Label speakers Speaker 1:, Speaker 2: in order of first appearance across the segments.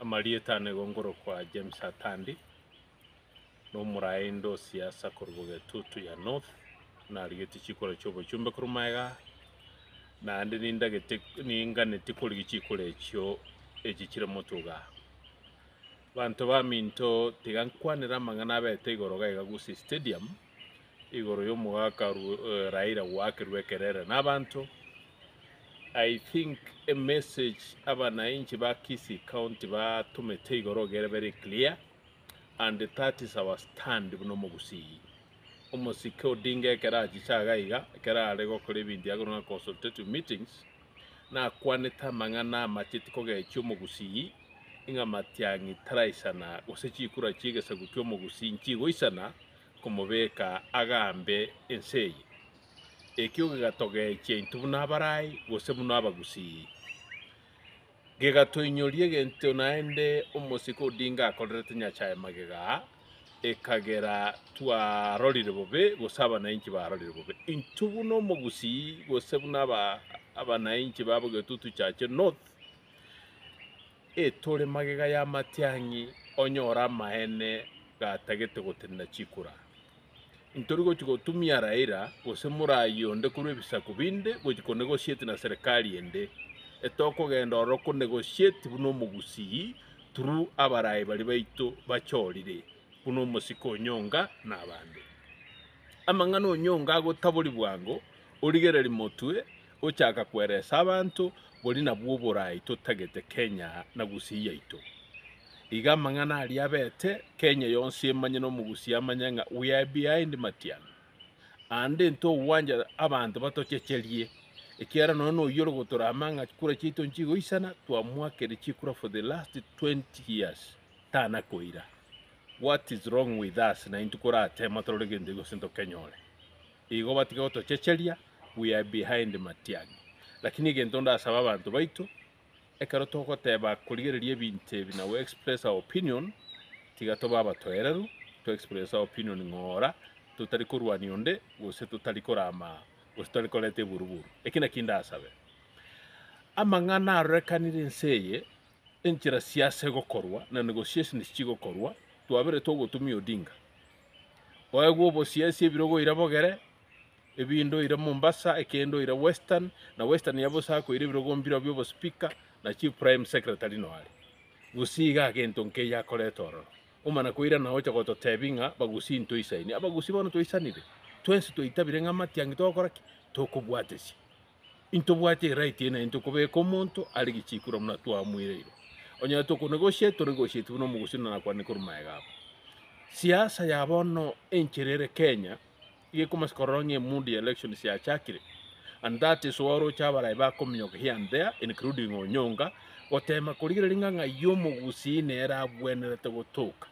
Speaker 1: Amarieta ane gongorokwa James Atandi, na omoraende o siasa korwa Bogetutu ya North, narigetie chikoro chia obochumbe korwa magega aa, naende nindagete ninganetie korigia chikoro echio echi chire motuga aa. Abanto baminto tiga nkwanere amang'ana abete igoro gaiga Gusii Stadium, igoro yomogaka Raila gwakerwa ekerere nabanto, I think a message abanainchi ba Kisii county batomete igoro igere very clear and that is our stand buna omogusii. Omosike Odinga ekero achiche iga iga ekero are gokora ebinto akorwa ng'a consultative meetings nakwanete amang'ana amacheti kogechia omogusii ng'a matiang'i taraisana gose chikura chiegesaku kiomogusii nchigoisana komobeka agambe ense eye. Ekio gegatogechia intwe buna abarai gose buna abagusii. Gegatoinyoria egento naende omosike Odinga akorerete Nyasae magega aa, ekagera twarorire bobe gose abanainchi barorire bobe. Intwe buna omogusii gose buna abanainchi ba Bogetutu Chache North, etore magega y'amatiang'i onyore amaene gatagete gotenena chikura. Intori gochia gotumia Raila gose morai onde korwa ebisaku binde gochia ko negotiate na serikali ende. Etokogenda ororo ko negotiate buna omogusii through abarai baria baito bachorire buna omosike onyonga na abande. Amang'ana onyonga agotabori bwango origereri motwe Gochaka kweresa abanto bori nabwo oborai totagete Kenya na Gusii yaito. Iga amang'ana aria abete Kenya yonsi emanye na Omogusii amanye ng'a we are behind Matiang'i. Aande ntogwancha abanto batochecherie ekiagera nonya noyio ore gotorama ng'a chikura chiaito nchigoisana twamoakire chikura for the last 20 years tanakoira. What is wrong with us naintwe koratema torore gento gose ntokenyore. Igo batige gotochecheria, we are behind Matiang'i. Lakini egento ndasabe abanto baito, ekero togoteba korigereria ebinto ebi na go express our opinion, tiga tobe abatoereru, to express our opinion ng'ora, totari korwania onde, gose totari korama, gose totari koreta eburuburu. Eki naki ndasabe. Amang'ana arorekanire ense eye, enchera sia ase gokorwa, na negotiations chigokorwa, twaberetwe ogotumia Odinga. Oegwe obosiasi ebirogo oira bogere, ebindo oira Mombasa, ekende oira Western, na Western ya bosa akoira ebirogo mbireo bi'obospeaker na chief prime secretary no are. Gusii iga gento nkeiyo akorete ororo. Omana koira na ocha gototebia ng'a Bagusii ntoisaini. Abagusii bono twaisanire? Twensi twaitabire ng'a matiangi togokora ki? Tokobwatesia. intobwati eright eye naende tokobeka omonto are gichikura buna twamoireire. Onye tokonegosia toregosieti buna omogosi na nakwanire korwa maega abo. Siasa ya bono enchera ere Kenya iga ekomasa korora ng'a emundi ya elections yachakire and that is why oroche abarayi bakominyoka here and there including Onyonga gotema korigereria ng'a ng'ai omogusi nere abwenerete gotoka.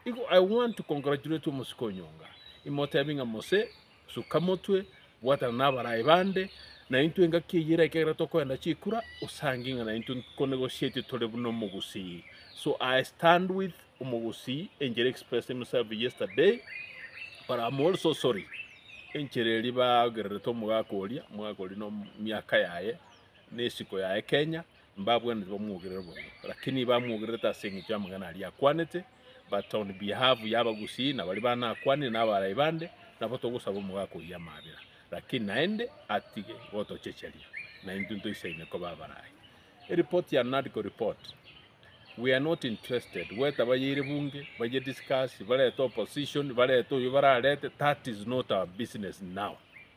Speaker 1: Igo I want to congratulate omosike Onyonga, imotebi ng'a mose Suka motwe, bwatana n'abarai bande, na intwe engaki eyio eraike ekero tokoenda chikura, osange ng'a naintwe nkonegosietie tore buna omogusii. So I stand with omogusii enchera expressed himself yesterday but I'm also sorry enchera eria baogererete omogaka oria, omogaka oria na miaka yaye na esiko yaye Kenya, mbabwenereti bamwogerere bobe, lakini ibamwogererete ase engencho y'amang'ana aria akwanete, but on behalf y'abagusii na baria bana akwanire na abarai bande, nabo togosaba omogaka oyio amabera, lakini naende atige gotochecheria, na intwe ntoisaine koba abarai. Ereport ya NADCO report we are not interested, gweta bayeire bunge, baye discuss, barete opposition, barete oyio bararete, that is not our business now.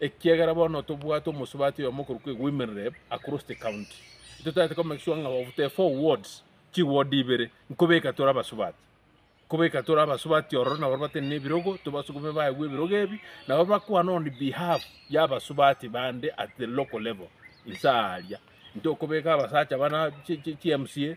Speaker 1: Ekiagera bono tobwate omosubati oyomo okorokwa Women Rep across the county, totaete ko make sure ng'a of the four wards, chiward ibere nkobeka tore abasubati. Nkobeka tore abasubati ororo nabo bate nebirogo tobasugume baegwe ebirogo ebi nabo bakwane on behalf ya abasubati bande at the local level. Inse aaria intokobeka abasacha bana chi mca.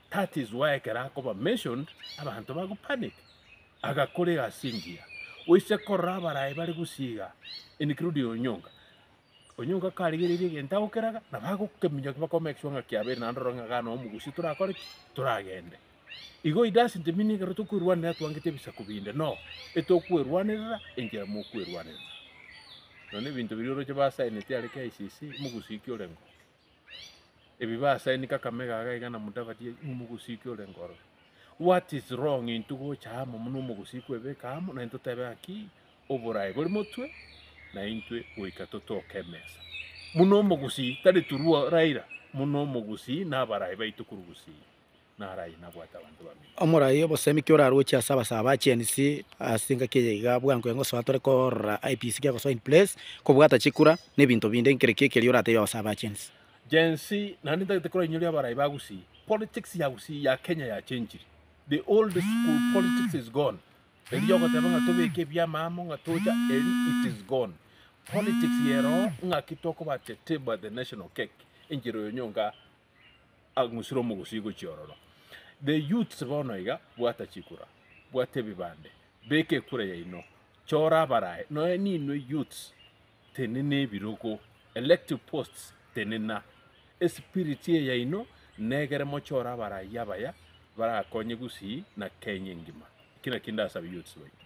Speaker 1: That is why ekero akoba mentioned abanto bagopanic. Agakorega ase engiya oise korora abarayi bare gusii igaa including Onyonga. Onyonga karigereiri egento agokeraga nabo agokeminyokia bako make sure ng'a kiabeire naende orore ng'a igaa no omogusii torakore ki? Toragende. Igo it doesn't mean ng'a ekero tokwerwanera twangete ebisaku binde no. Etokwerwanerera enchera mokwerwanerera. Nonya ebinto biria oroche ba signeti are KICC, omogusii ki orenge oo? ebibe ase aye niko akame gaga iga na mudavadi aye omogosiki ore nkorora what is wrong intwe gocha amo buna omogosiki kwebeka amo na intwe totebe ng'aki oborae bore motwe na intwe goika totoke emesa buna omogusii tari through Raila buna omogusii na abarayi baito korwa gusii. Omorai obosemi ki oraroche ase abasaba ba Gen Z ase engaki eye iga? Bwango iga ngosoa tore korora IEBC gegosoa in place, kobwata chikura, na ebinto binde. Nkere ki ekeria orateebie abasaba ba Gen Z? Gen Z, naende ntagete korainyoria abarai ba Gusii. Politics ya Gusii, ya Kenya yachenchire. The old school politics is gone. Eria ya ogoteba ng'a tobeke ebiama amo ng'a tocha eri it is gone. Politics ya eroho ng'aki tokoba teteba the national cake, enchera oyo nyonka agusire omogusii gochia ororo. The youths bono iga bwata chikura, bwata ebibande, beka ekura yaino, chora abarayi, nonya ninwe youths tenena ebirogo, elective posts tenena, espiriti eye yaino negere mochore abarayi abaya barakonye gusii na Kenya engima. Eki nakio ndasabe youths baito.